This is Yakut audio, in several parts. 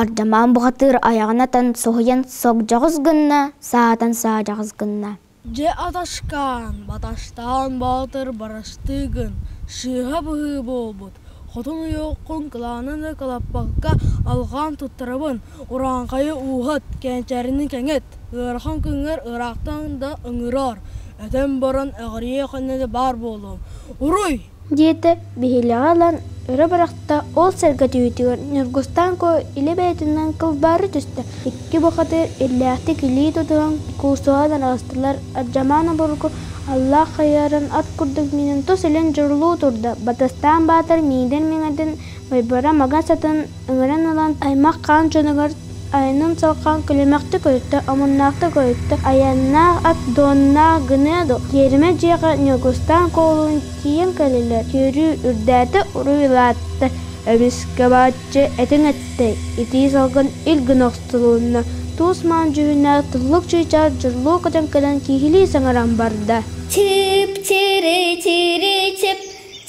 Ардамаан бухатыыр айаҕын атан соһуйан согдьоҕус гынна, саатан саадьаҕыс гынна Дьэ аташкаан, Баташтаан Боотур барастыы гын, сыыһа быһыы буолбут, хотун ойуоккун кылаанын ыкылаппакка алҕаан туттарабын, урааҥхайы ууһат, кэнчээрини кэҥэт, ыарахан күҥҥэр ыраахтан да ыҥыраар, этэн баран эҕирийэ хонньото баар буолуом, уруй! диэтэ биһилэҕи ылан өрө бырахта ол сэргэтиитигэр ньургустаан куо илэ бэйэтинэн кылбаары түстэ икки бухатыыр иллээхтик илии тутуһан куусуһан аҕыстылар алдьамаан обургу аллаах хайыһарын ат курдук миинин тус илин дьурулуу турда батыстаан баатар миидин миҥэтин майбара маҥас атын ыҥыран ылан аймах хаан дьонугар айанын салҕаан күлүмэхтик көрүттэ омуннаахтык көрүттэ айаннаах ат дуоннаах гыныа дуо тиэримэ дьиэҕэ ньургустаан куолулун тиийэн кэллилэр түөрүү үрдээтэ уруйулаата эмискэ бааччы этиҥ эттэй итии салгын ил гына охсулунна туус-маан дьүһүннээх туллук чыычаах дьурлуу көтөн кэлэн кииһилии саҥаран барда чип чири чири чип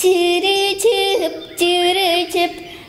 чири чип чири чип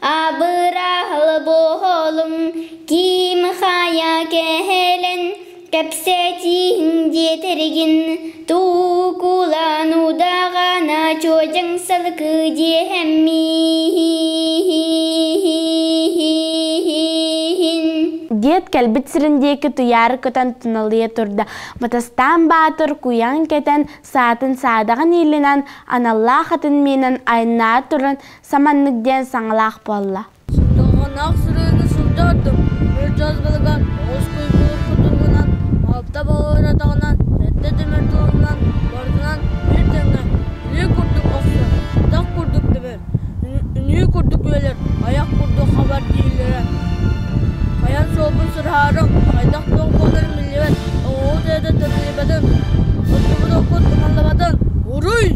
Абыраал буолум ким хайа кэлэн кэпсэтиин диэтэргин туукулан удаҕана чуодьаҥ салгыы диэһэммин диэт кэлбит сирин диэки туйаары көтөн туналыйа турда Батастаан Баатыр куйаан кэтэн саатын саадаҕын иилинэн аналлаах атын миинэн айаннаан туран Саманнык диэн саҥалаах буолла. Сордоҥҥоноох сырыыны сылдьардым. Мөлтөс былыга оҕус куйкуруспут туһунан алта балыыратаҕынан сэттэ тимир туоһунан барытынан биир тэҥҥэ үнүү курдук охсор, атах курдук тэбэр, үнүү курдук үөлэр, айах курдук хабар дииллэрэ. Хайан суолбун сырһаарым, хайдах тоҥ буоларын биллибэт, оҕуһу тэйэтэ төрүллүбэтин, оттубут оккут умаллыбатын, уруй!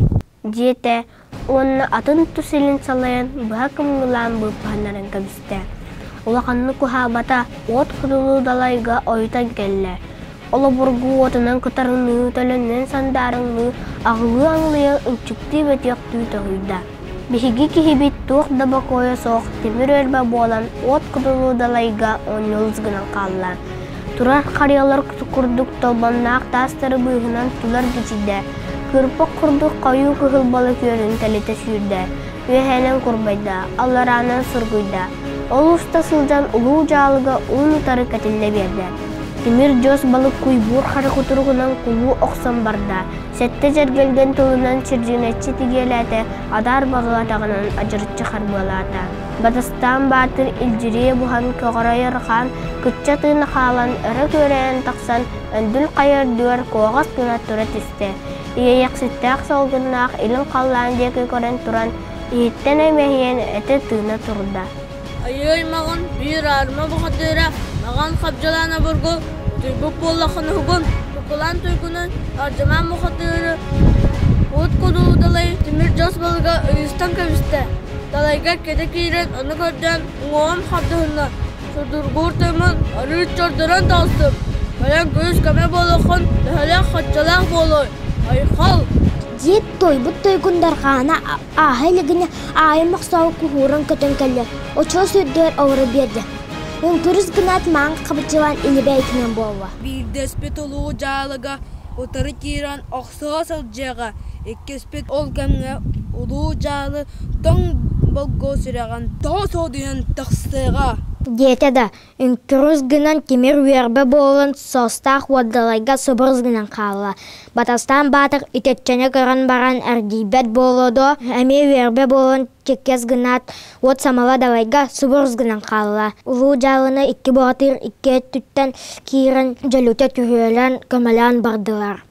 диэтэ уонна атын тус илин салайан быһа кымгылаан быыппаһыннаран кэбистэ. Улаханнык куһаабата уот кутулуу далайга ойутан кэллэ. Олобургу уотунан кытарыныы төлөннөн сандаарыҥныы аҕылыы-аҥылыйа ынчыктыы бөтүөхтүү тоһуйда. Биһиги киһибит туох да бокуойа суох тимир өлбө буолан уот кутулуу далайга он ньулус гынан хаалла. Турар харыйалар курдук толбонноох таастары быыһынан тулар бичийдэ, кыырпык курдук хойуу кыһыл балыкүөнүн тэлитэ сүүрдэ, үөһээнэн курбайда, аллараанан сургуйда. Ол уста сылдьан улуу дьаалыга уун-утары кэтиллэ биэрдэ. Тимир дьос балык куйбуур хары кутуругунан кулуу охсон барда, сэттэ дьэргэлгэн тылынан чирдьиҥэччи тигиэлээтэ, адаар баҕа атаҕынан адьырыччы харбыалаата. Батыстаан баатыр илдьирийэ буһан көҕөрөйөр хаан кычча тыына хаалан өрө күөрэйэн тахсан өндүл хайырдыыр куоҕас гына тура түстэ. Иэйэкситтээх солгуннаах илин халлаан диэки көрөн туран иһиттэн эмэһийэн этэ тыына турда: «Айыы-аймаҕын биир аарыма баҕатыыра маҕан хабдьылаан обургу туйбут буоллаххын уһугун, букулаан туйгунун ардьамаан бухатыыры, от кудуудалай тимир дьос балыга ойуустан кэбистэ. Далайга кэтэ киирэн ону көрсөн уҥуоҕум хардыһынна, судургуур тоймун арыы чордорон таҕыстым. Кэлэн күнүс-көмө буолуоххун, төһөлөөх-хоччолоох буолуой, айхал!» диэт туойбут туйгуннаргаана ааһа илигинэ аайым мохсоҕо куһуурун көтөн кэллэ, очоос үрдүгэр олоро биэрдэ. Уҥкүрүс гынаат маҥан хабыччылаан илибээй гынан буолла. Биирдэспит улуу дьаалага утары киирэн ох Саас алдьарҕа иккиспит ол кэмҥэ улуу дьаалы тоҥ болго сүрэҕин тоҕо соодуйан тахсыаҕа диэтэ да үҥкүрүс гынан тимир үөрбэ буолан саастаах уодалайга сыбырыс гынан хаалла батастаан баатар итэччэни көрөн баран эргийбэт буолуо доо эмиэ үөрбэ буолан чэккэс гынаат уот самала далайга сыбырыс гынан хаалла улуу дьаалыны икки боотур икки өттүттэн киирэн дьөлүтэ түһүөлээн көмөлөөн бардылар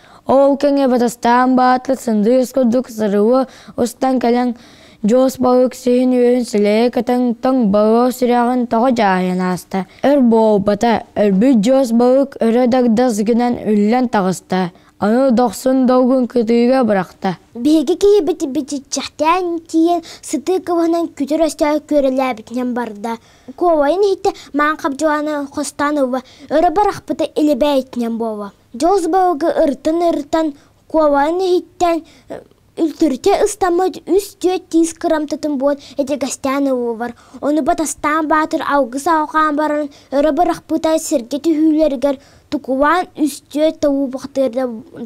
Ол кэмҥэ батастаан баатыр сындыыс курдук сырыыга устан кэлэн Дьуус Балык сиһин-үөһүн силэйэ көтөн тоҥ Боруос сүрэҕин тоҕо дьаайан ааста. Өр буолбата, өлбүт Дьуус Балык өрө дагдас гынан үллэн таҕыста. Аны дохсун долгун кытыыга бырахта. Биһиги киһибит бичиччэхтээн тиийэн сытыы кыбыһынан күтүр өстөөх күөрэлээбитинэн барда. Куобайын иһиттэ маан хабдьылаана хостоон ууга өрө барахпыта илибэйтинэн буолла. Дьоз балыгы ырытан-ырытан, куобаҕын иһиттэн үлтүрүтэ ыстаммыт үс-түөрт тиис кырамтатын буот эдьигэстээн ыллылар. Ону Батастаан Баатыр алгыс алҕаан баран, өрө бырахпыта сэргэ түһүүлэригэр тукубаан үс-түөрт тобулбахтыыр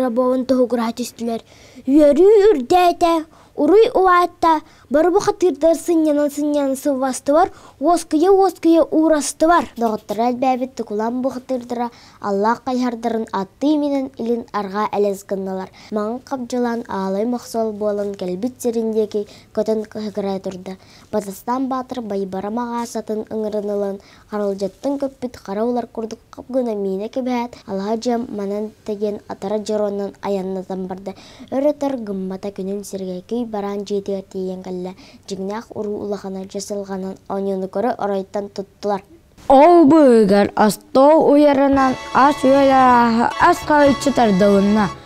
рабован тоһугураһа түстүлэр. Үөрүү үрдээтэ, уруй улаатта, Бары бу хатыырдар сынньанан-сынньанан сылвастылар, уоскуйа-уоскуйа уурастылар. Доҕотторо элбээбит Тукулам бу хатыырдара аллаах хайыһардарын аттыы минэн илин арҕаа элэс гыннылар. Маҥан хабдьылаан аалай мохсол буолан кэлбит сирин диэки көтөн кыһыкырай турда. Батыстаан баатыр Байбара маҕаасатын ыҥыран ылан Харалдьыттан көппүт хара улар курдук хоп гына миинэ кэбиһээт, алаһа дьиэм манан диэн атара дьоруоннан айаннатан барда. Өр өтөр гыммата күнүн сиргэ күй бараан дьиэтигэр тиийэн кэллэ. Дьиҥнээх уруу улахана дьасылҕанан оонньууну көрө оройуттан туттулар. Ол быыгар остуол уйарынан ас-үөл арааһы ас хаһыыччы тардылынна.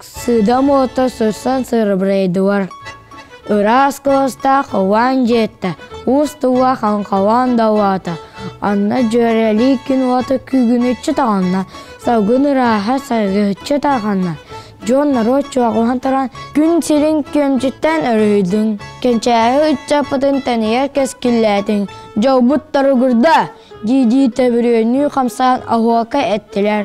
Сыдам уота сырсан сырабырайдылар. Ыраас кыластаах ылаан дьиэтэ, уустуга хаҥхалаан далаата, анна дьүөрэлии күн уота күүгүнүччү таҕанна, салгын ырааһа сайгыһыччы тарҕанна. Дьон норуот чуоҕуһан туран күн сирин күөмчүттэн өрүһүйдүҥ, кэнчээри ыччаппытын тэнийэр кэскиллээтиҥ, дьолбут торугурда! дии-дии төбүрүөннүү хамсаан оһуока эттилэр.